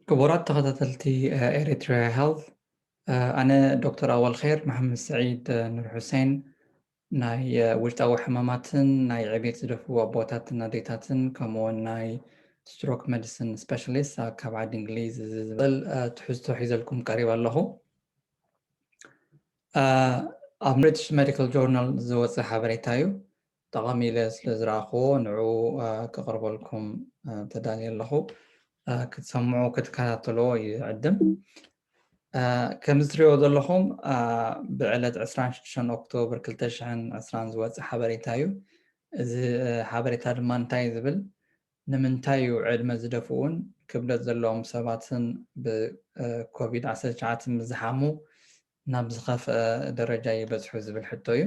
ክቡራት ተኸታተልቲ ኤሪትሪያ ሄልዝ ኣነ ዶክተር ኣወልኼር መሓመድ ስዒድ ኑር ሑሴን ናይ ውሽጣዊ ሕማማትን ናይ ዕቤት ዝደፍኡ ኣቦታትን ኣዴታትን ከምኡውን ናይ ስትሮክ መዲሲን ስፔሻሊስት ካብ ዓዲ እንግሊዝ ዝብል ትሕዝቶ ሒዘልኩም ቀሪብ ኣለኹ ኣብ ብሪትሽ ሜዲካል ጆርናል ዝወፀ ሓበሬታ እዩ ጠቓሚ ኢለ ስለ ዝረኣኹዎ ንዕኡ ከቕርበልኩም ተዳልየ ኣለኹ። ክትሰምዑ ክትከታተልዎ ይዕድም። ከምዚ ትሪእዎ ዘለኹም ብዕለት 26 ኦክቶብር 2020 ዝወፀ ሓበሬታ እዩ። እዚ ሓበሬታ ድማ እንታይ እዩ ዝብል ንምንታይ እዩ ዕድመ ዝደፍኡን ክብደት ዘለዎም ሰባትን ብኮቪድ 19 ምስ ዝሓሙ ናብ ዝኸፍኣ ደረጃ ይበጽሑ ዝብል ሕቶ እዩ።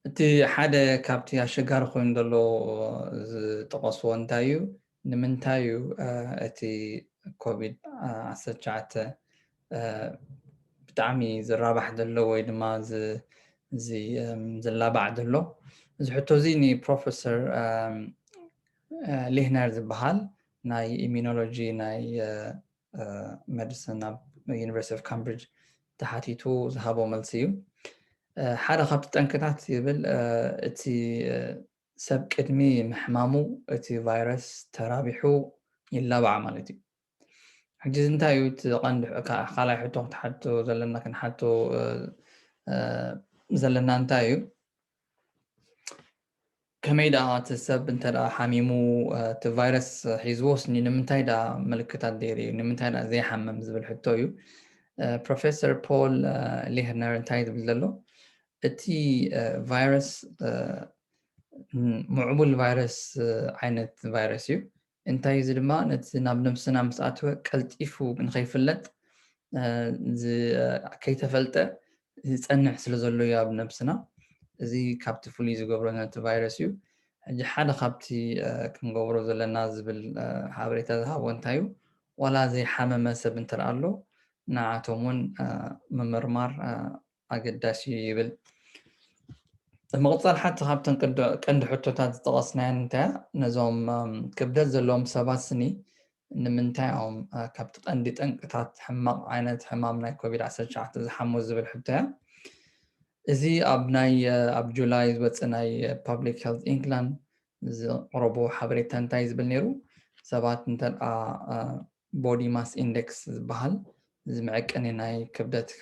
እቲ ሓደ ካብቲ ኣሸጋሪ ኮይኑ ዘሎ ዝጠቐስዎ እንታይ እዩ ንምንታይ እዩ እቲ ኮቪድ ዓሰርተ ትሽዓተ ብጣዕሚ ዝራባሕ ዘሎ ወይ ድማ ዝላባዕ ዘሎ እዚ ሕቶ እዚ ንፕሮፌሰር ሊህነር ዝበሃል ናይ ኢሚኖሎጂ ናይ መድስን ኣብ ዩኒቨርሲቲ ኦፍ ካምብሪጅ ተሓቲቱ ዝሃቦ መልሲ እዩ ሓደ ካብቲ ጠንክታት ይብል እቲ ሰብ ቅድሚ ምሕማሙ እቲ ቫይረስ ተራቢሑ ይላባዕ ማለት እዩ ሕጂ እዚ እንታይ እዩ እቲ ቀንዲ ካልኣይ ሕቶ ክትሓቶ ዘለና ክንሓቶ ዘለና እንታይ እዩ ከመይ ደኣ እቲ ሰብ እንተ ሓሚሙ እቲ ቫይረስ ሒዝዎስ ንምንታይ ደኣ ምልክታት ዘይርእዩ ንምንታይ ደኣ ዘይሓምም ዝብል ሕቶ እዩ ፕሮፌሰር ፖል ሊህነር እንታይ ዝብል ዘሎ እቲ ቫይረስ ምዕቡል ቫይረስ ዓይነት ቫይረስ እዩ እንታይ እዚ ድማ ነቲ ናብ ነብስና ምስ ኣተወ ቀልጢፉ ንኸይፍለጥ ከይተፈልጠ ዝጸንሕ ስለ ዘሎ እዩ ኣብ ነብስና እዚ ካብቲ ፍሉይ ዝገብሮ ነቲ ቫይረስ እዩ። ሕጂ ሓደ ካብቲ ክንገብሮ ዘለና ዝብል ሓበሬታ ዝሃቦ እንታይ እዩ ዋላ ዘይሓመመ ሰብ እንተደኣ ኣሎ ንዓኣቶም እውን ምምርማር ኣገዳሲ እዩ ይብል። ብምቕፃል ሓንቲ ካብተን ቀንዲ ሕቶታት ዝጠቐስናየን እንታይ ነዞም ክብደት ዘለዎም ሰባት ስኒ ንምንታይ እዮም ካብቲ ቀንዲ ጠንቅታት ሕማቕ ዓይነት ሕማም ናይ ኮቪድ 19 ዝሓሙ ዝብል ሕቶ እያ እዚ ኣብ ናይ ኣብ ጁላይ ዝወፅእ ናይ ፓብሊክ ሄልት ኢንግላንድ ዝቕረቦ ሓበሬታ እንታይ ዝብል ነይሩ ሰባት እንተኣ ቦዲ ማስ ኢንደክስ ዝበሃል እዚ መዐቀኒ ናይ ክብደትካ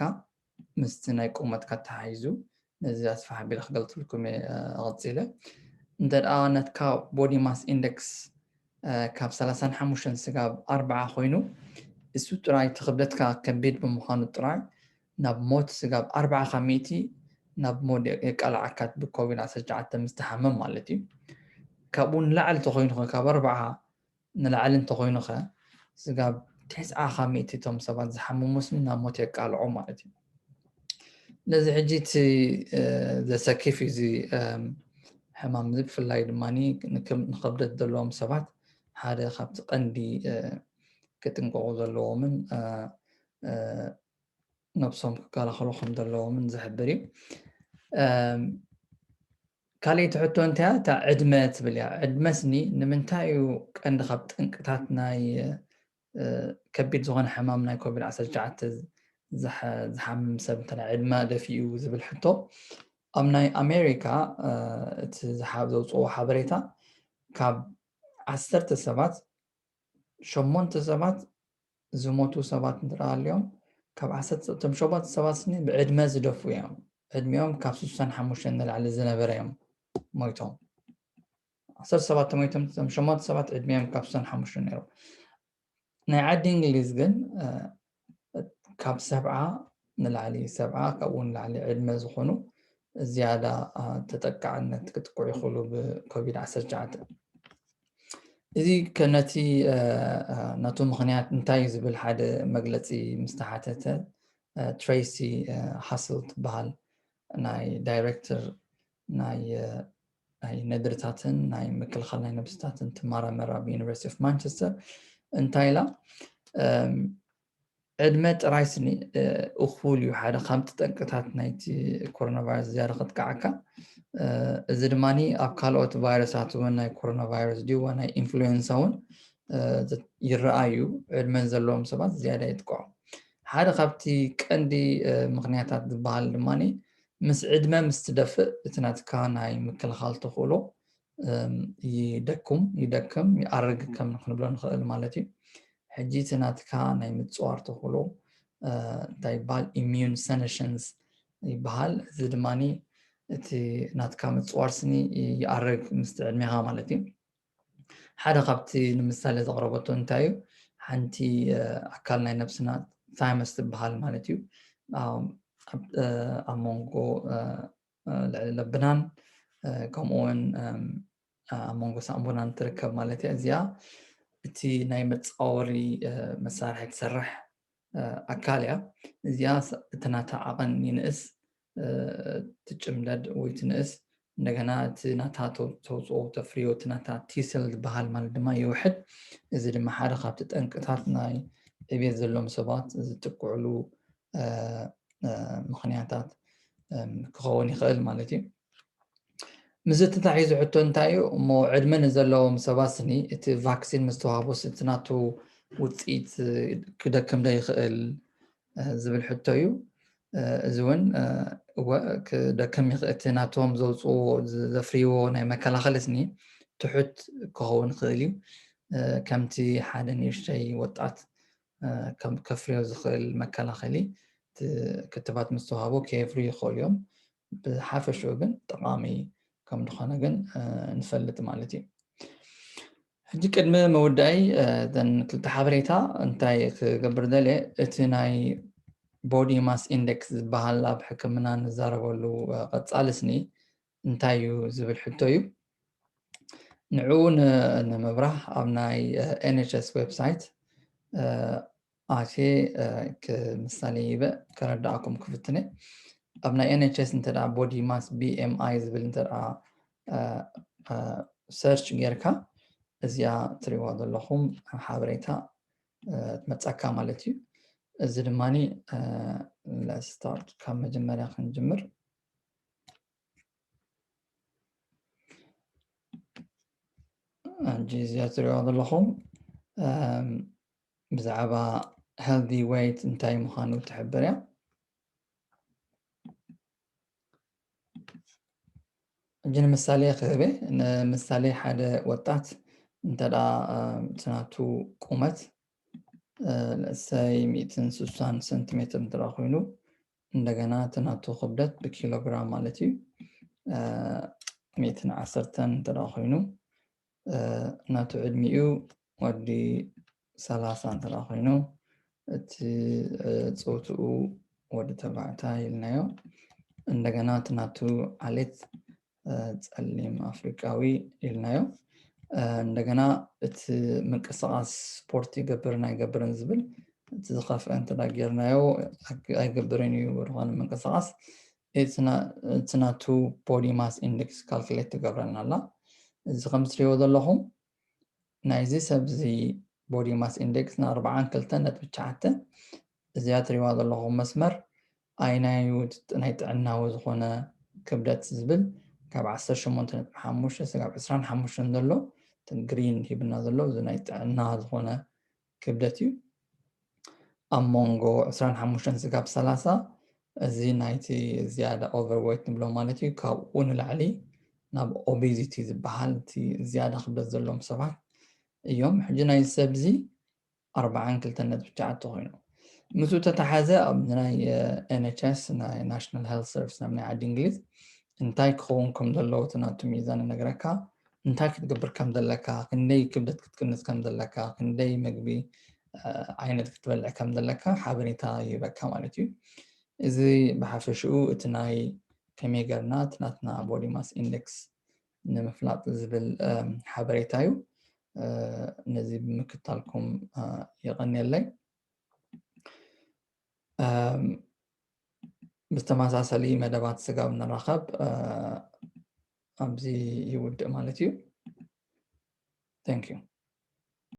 ምስቲ ናይ ቁመትካ ተሓሒዙ ነዚ ኣስፍሕ ኣቢለ ክገልጽልኩም እየ ቐጺለ እንተ ናትካ ቦዲ ማስ ኢንደክስ ካብ ሰላሳን ሓሙሽተን ስጋብ ኣርብዓ ኮይኑ እሱ ጥራይ እቲ ክብደትካ ከቢድ ብምዃኑ ጥራይ ናብ ሞት ስጋብ ኣርብዓ ካብ ሚእቲ ናብ ሞት የቃልዓካ ብኮቪድ ዓሰርተ ትሽዓተ ምስ ትሓምም ማለት እዩ ካብኡ ንላዕሊ ተኮይኑ ካብ ኣርብዓ ንላዕሊ እንተኾይኑ ከ ስጋብ ቴስዓ ካብ ሚእቲ እቶም ሰባት ዝሓመሙስ ናብ ሞት የቃልዖም ማለት እዩ ስለዚ ሕጂ እቲ ዘሰኪፍ እዩ እዚ ሕማም እዚ ብፍላይ ድማ ንከብደት ዘለዎም ሰባት ሓደ ካብቲ ቀንዲ ክጥንቀቑ ዘለዎምን ነብሶም ክከላኸሉ ከም ዘለዎምን ዝሕብር እዩ ካሊእቲ ሕቶ እንታይ እያ እታ ዕድመ ትብል እያ ዕድመስ ንምንታይ እዩ ቀንዲ ካብ ጠንቅታት ናይ ከቢድ ዝኾነ ሕማም ናይ ኮቪድ 19 ዝሓምም ሰብ እንተ ዕድመ ደፊኡ ዝብል ሕቶ ኣብ ናይ ኣሜሪካ እቲ ዘውፅዎ ሓበሬታ ካብ ዓሰርተ ሰባት ሸሞንተ ሰባት ዝሞቱ ሰባት እንተ ሃልዮም ካብ ዓሰርተ እቶም ሸሞንተ ሰባት ስኒ ብዕድመ ዝደፍኡ እዮም ዕድሚኦም ካብ ስሳን ሓሙሽተን ንላዕሊ ዝነበረ እዮም ሞይቶም ዓሰርተ ሰባት ተሞይቶም እቶም ሸሞንተ ሰባት ዕድሚኦም ካብ ስሳን ሓሙሽተን ነይሩ ናይ ዓዲ እንግሊዝ ግን ካብ ሰብዓ ንላዕሊ ሰብዓ ካብኡ ንላዕሊ ዕድመ ዝኾኑ ዝያዳ ተጠቃዕነት ክጥቅዑ ይኽእሉ ብኮቪድ 19 እዚ ከነቲ ነቱ ምክንያት እንታይ እዩ ዝብል ሓደ መግለፂ ምስ ተሓተተ ትሬሲ ሃስል ትበሃል ናይ ዳይሬክተር ናይ ነድርታትን ናይ ምክልኻል ናይ ነብስታትን ትመራመር ኣብ ዩኒቨርሲቲ ኦፍ ማንቸስተር እንታይ ኢላ ዕድመ ጥራይ ስኒ እኹል እዩ ሓደ ካብቲ ጠንቅታት ናይቲ ኮሮና ቫይረስ ዝያዳ ከጥቅዓካ እዚ ድማ ኣብ ካልኦት ቫይረሳት እውን ናይ ኮሮና ቫይረስ ድዩ ናይ ኢንፍሉዌንሳ እውን ይረኣ እዩ ዕድመ ዘለዎም ሰባት ዝያዳ የጥቅዖም ሓደ ካብቲ ቀንዲ ምክንያታት ዝበሃል ድማ ምስ ዕድመ ምስ ትደፍእ እቲ ናትካ ናይ ምክልኻል ተኽእሎ ይደኩም ይደክም ይኣርግ ከም ክንብሎ ንኽእል ማለት እዩ ሕጂ እቲ ናትካ ናይ ምፅዋር ተኽእሎ እንታይ ይበሃል ኢሚዩን ሰነሽንስ ይበሃል እዚ ድማ እቲ ናትካ ምፅዋር ስኒ ይኣርግ ምስቲ ዕድሜኻ ማለት እዩ ሓደ ካብቲ ንምሳሌ ዘቕረበቶ እንታይ እዩ ሓንቲ ኣካል ናይ ነብስና ታይመስ ትበሃል ማለት እዩ ኣብ መንጎ ልዕሊ ለብናን ከምኡውን ኣብ መንጎ ሳምቡናን ትርከብ ማለት እያ እዚኣ እቲ ናይ መፃወሪ መሳርሒ ትሰርሕ ኣካል እያ እዚኣ እቲ ናታ ዓቐን ይንእስ ትጭምደድ ወይ ትንእስ እንደገና እቲ ናታ ተውፅኦ ተፍርዮ እቲ ናታ ቲሰል ዝበሃል ማለት ድማ ይውሕድ እዚ ድማ ሓደ ካብቲ ጠንቅታት ናይ ዕብየት ዘለዎም ሰባት ዝጥቅዕሉ ምክንያታት ክኸውን ይኽእል ማለት እዩ ምስዚ ተታሒዙ ሕቶ እንታይ እዩ እሞ ዕድመ ንዘለዎም ሰባት ስኒ እቲ ቫክሲን ምስ ተዋህቦስ እቲ ናቱ ውፅኢት ክደክም ዶ ይኽእል ዝብል ሕቶ እዩ እዚ እውን ክደክም ይኽእል እቲ ናቶም ዘውፅዎ ዘፍርይዎ ናይ መከላኸሊ ስኒ ትሑት ክኸውን ይኽእል እዩ ከምቲ ሓደ ንእሽተይ ወጣት ከፍርዮ ዝኽእል መከላኸሊ ክትባት ምስ ተዋህቦ ከየፍርዩ ይኽእሉ እዮም። ብሓፈሽኡ ግን ጠቓሚ ከም ዝኾነ ግን ንፈልጥ ማለት እዩ። ሕጂ ቅድሚ መወዳኢ ዘን ክልተ ሓበሬታ እንታይ ክገብር ደልየ እቲ ናይ ቦዲ ማስ ኢንደክስ ዝበሃል ኣብ ሕክምና ንዛረበሉ ቐፃሊ ስኒ እንታይ እዩ ዝብል ሕቶ እዩ። ንዕኡ ንምብራህ ኣብ ናይ NHS website ኣትየ ክምሳሌ ሂበ ከረድኣኩም ክፍትነ ኣብ ናይ NHS እንተ body mass BMI ዝብል እንተ search ጌርካ እዚኣ ትሪእዋ ዘለኹም ሓበሬታ ትመጻካ ማለት እዩ እዚ ድማኒ ለስታርት ካብ መጀመርያ ክንጅምር ሕጂ እዚኣ ትሪእዋ ዘለኹም ብዛዕባ ሄልዲ ዌይት እንታይ ምዃኑ ትሕብር እያ ሕጂ ንምሳሌ ክህበ ንምሳሌ ሓደ ወጣት እንተ ናቱ ቁመት ሰይ ሚእትን ስሳን ሰንቲሜትር እንተ ኮይኑ እንደገና እቲ ናቱ ክብደት ብኪሎግራም ማለት እዩ ሚእትን ዓሰርተን እንተ ኮይኑ ናቱ ዕድሚኡ ወዲ ሰላሳ እንተ ኮይኑ እቲ ፆትኡ ወዲ ተባዕታይ ኢልናዮ እንደገና እቲ ናቱ ዓሌት ጸሊም ኣፍሪቃዊ ኢልናዮ እንደገና እቲ ምንቅስቃስ ስፖርት ይገብርን ኣይገብርን ዝብል እቲ ዝኸፍአ እንተ ጌርናዮ ኣይገብርን እዩ ዝኾነ ምንቅስቃስ እቲ ናቱ ቦዲ ማስ ኢንደክስ ካልኩሌት ትገብረልና ኣላ እዚ ከም ትሪእዎ ዘለኹም ናይዚ ሰብዚ ቦዲ ማስ ኢንደክስ ን ኣርብዓን ክልተን ነጥቢ ትሽዓተ እዚኣ ትሪእዋ ዘለኹም መስመር ኣይናዩ ናይ ጥዕናዊ ዝኾነ ክብደት ዝብል ካብ ዓሰርተ ሸሞንተ ነጥቢ ሓሙሽተ ስጋብ ዕስራን ሓሙሽተን ዘሎ ግሪን ሂብና ዘሎ እዚ ናይ ጥዕና ዝኾነ ክብደት እዩ ኣብ መንጎ 25 ስጋብ 30 እዚ ናይቲ ዝያዳ ኦቨርዌት ንብሎ ማለት እዩ ካብኡ ንላዕሊ ናብ ኦቤዚቲ ዝበሃል እቲ ዝያዳ ክብደት ዘለዎም ሰባት እዮም ሕጂ ናይ ሰብዚ 42.9 ኮይኑ ምስኡ ተተሓዘ ኣብ ናይ ኤንኤችኤስ ናይ ናሽናል ሄልት ሰርቪስ ናብ ናይ ዓዲ እንግሊዝ እንታይ ክኸውን ከም ዘለዎ እቲ ናቱ ሚዛን ነገረካ እንታይ ክትገብር ከም ዘለካ ክንደይ ክብደት ክትቅንስ ከም ዘለካ ክንደይ መግቢ ዓይነት ክትበልዕ ከም ዘለካ ሓበሬታ ይህበካ ማለት እዩ እዚ ብሓፈሽኡ እቲ ናይ ከመይ ገርና እቲ ናትና ቦዲ ማስ ኢንደክስ ንምፍላጥ ዝብል ሓበሬታ እዩ ነዚ ብምክታልኩም የቐንየለይ ብተመሳሰሊ መደባት ስጋብ ንራኸብ ኣብዚ ይውድእ ማለት እዩ። Thank you።